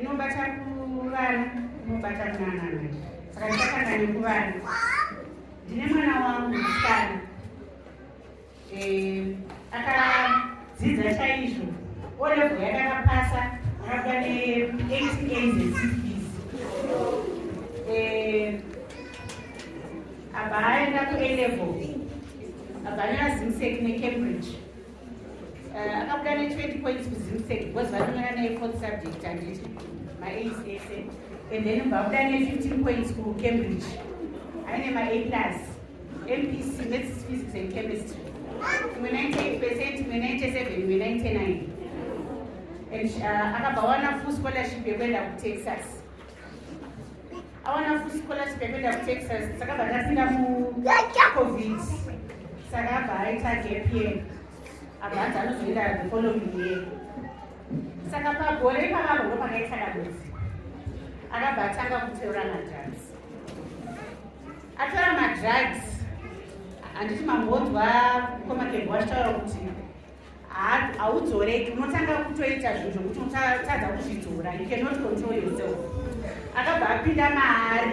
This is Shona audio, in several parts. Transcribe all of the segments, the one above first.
inobata kuvana inobata kunanana saka ndichakanga nekuvana ndine mwana wangu musikana eh, akadzidza chaizvo olevo yake akapasa akabuda ne8 eh, abva aenda kuelevo abva neazimsek necambridge Uh, akabuda ne20 points kuzimsec because vanonyora naye fourth subject handiti maas ese and then vabuda ne15 points kucambridge aine ma a plus mpc maths physics and chemistry imwe 98 percent imwe 97 imwe 99 and uh, akabva wana full scholarship yekuenda kutexas awana futi scholarship yekuenda kutexas sakabva ndapinda mucovid saka abva aita gapye abva anzi anozoenda the following year saka pagore ipavavo ndo pakaita dambuzi akabva atanga kuteura madrugs atora madrugs handiti mambonzwa komakebwa achitaura kuti haudzoreki unotanga kutoita zvinhu zvokuti unotadza kuzvidzora you cannot control yourself akabva apinda maari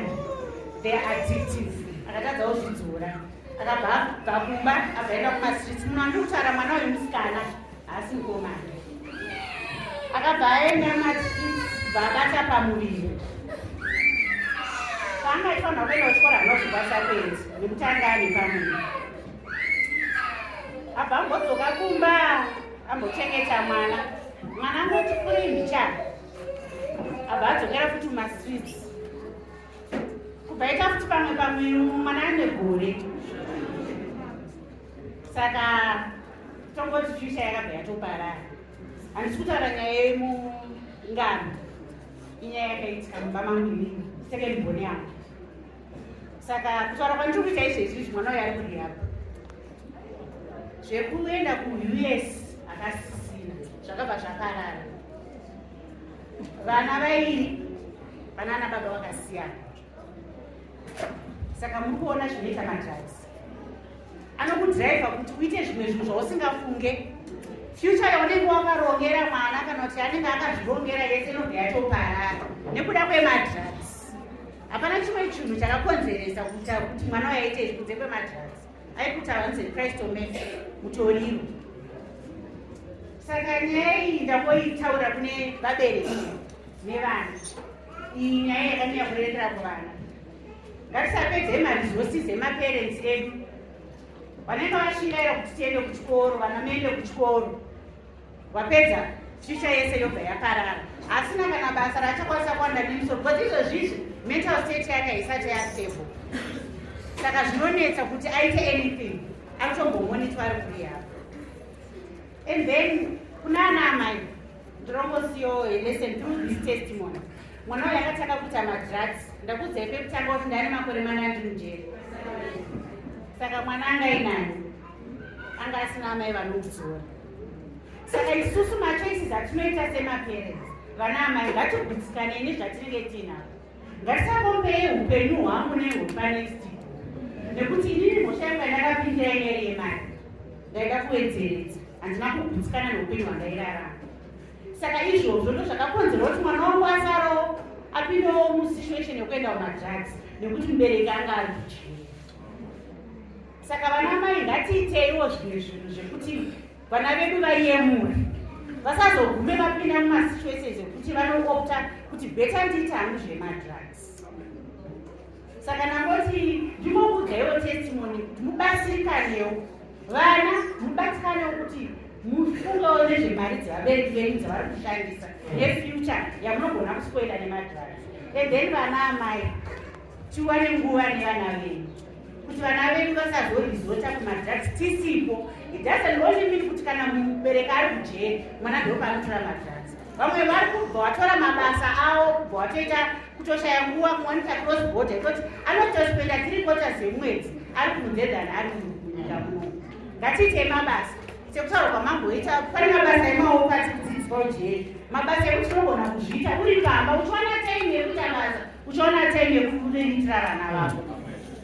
the addictive akatadza kuzvidzora akabva abva kumba abvaenda kumastreets muno andiri kutaura mwana uyu musikana haasi mukomana akabva aenda mastreets vaabata pamuviri paanga ifanira kuenda kuchikora anozvibasa kuenzi nekuti anga ane pamuviri abva ambodzoka kumba ambochengeta mwana mwana angoti kuri mbichana abva adzokera futi mumaswits kubva ita futi pamwe pamwe mwana ane gore saka tongoti fyucha yakabva yatoparara handisi kutaura nyaya yemungano inyaya yakaitika mumba mangu inini sekemboni yangu saka kutaura kwandiri kuita izvo izvizvi mwana uyo ari kurihab zvekuenda kuus akasisina zvakabva zvaparara vana vairi vanana baba vakasiyana saka muri kuona zvinoita madrugs anokudriva kuti uite zvimwe zvinhu zvausingafunge future yaunenge wakarongera mwana kana kuti anenge akazvirongera yese inobva yatoparara nekuda kwemadrugs hapana chimwe chinhu chakakonzeresa kuita kuti mwana wayaite izvi kunze kwemadrugs aikuti awanze christ omes mutoriro saka nyaya iyi ndangoitaura kune vabereki nevana iyi nyaya yakanyanya kurerera kuvana ngatisapedze maresources emaparents edu vanenge vashingaira kuti tiende kuchikoro vana mende kuchikoro wapedza future yese yobva yaparara asina kana basa raachakwanisa kuwanda nemuso but izvozvizvi mental state yake haisati yastable saka zvinonetsa kuti aite anything anotombomonitwa ari kuri yavo and then kuna ana amai ndorongosiyowo lesson through this testimony mwana uyo akatanga kuita madrugs ndakudzai pekutanga kuti ndane makore manandi mujeri saka mwana angainani anga asina amai vanomudzora saka isusu machoices atinoita semaparents vana amai ngatigutsikane nezvatinenge tiinavo ngatisakombeye upenyu hwangu nehwepanext nekuti inini mhosva yanga ndakapinda yanyari yemari ndaida kuwedzeredza handina kugutsikana neupenyu hwandairarama saka izvozvo ndo zvakakonzerwa kuti mwana wangu asarowo apindewo musituation yekuenda kumadrugs nekuti mubereki anga ari kuchii saka vana mai ngatiiteiwo zvimwe zvinhu zvekuti vana vedu vaiyemura vasazogume vapinda mumasituations ekuti vanoopta kuti beta ndiita hangu zvemadrugs saka nangoti ndimokudzaiwo testimony kuti mubatsirikanewo vana mubatsikanewo kuti mufungawo nezvemari dzevabereki venyu dzavari kushandisa nefuture yamunogona kuspoila nemadrugs and then vana amai tiwane nguva nevana vedu kuti vana vedu vasazorizota kumadrugs tisipo it doesn't only mean kuti kana mubereki ari kujeri mwana ndopa anotora madrugs vamwe vari kubva watora mabasa avo kubva watoita kutoshaya nguva kuwanika cross border ikoti anotospenda tiri kota dzemwedzi ari kunze than ari munyika muno ngatiite mabasa sekutaura kwamamboita pane mabasa emaoko atikudzidziswa ujeri mabasa ekuti unogona kuzviita uri pamba uchiwana time yekuita basa uchiona time yekubiriritira vana vako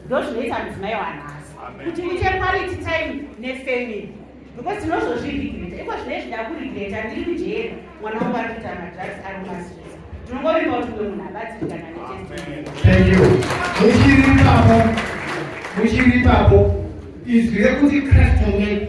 ndozvinoita mudzimai wanhasi kuti uite quality time nefamily because tinozozviregreta iko zvine zvida kuregreta ndiri mujeri mwana wangu ari kuita madrugs ari mumasresa tinongovimba kuti mwe munhu abatsirikana netemuchiripapo muchiripapo izwi rekuti christ mune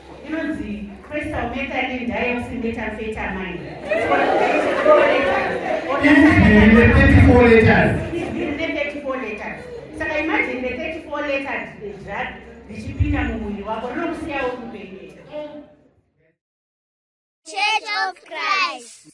inonzi crystal methadone dioxymethamphetamine saka imagine the 34 letters drug richipinda mumuviri wako rinokusiyawo kupenyu Church of Christ.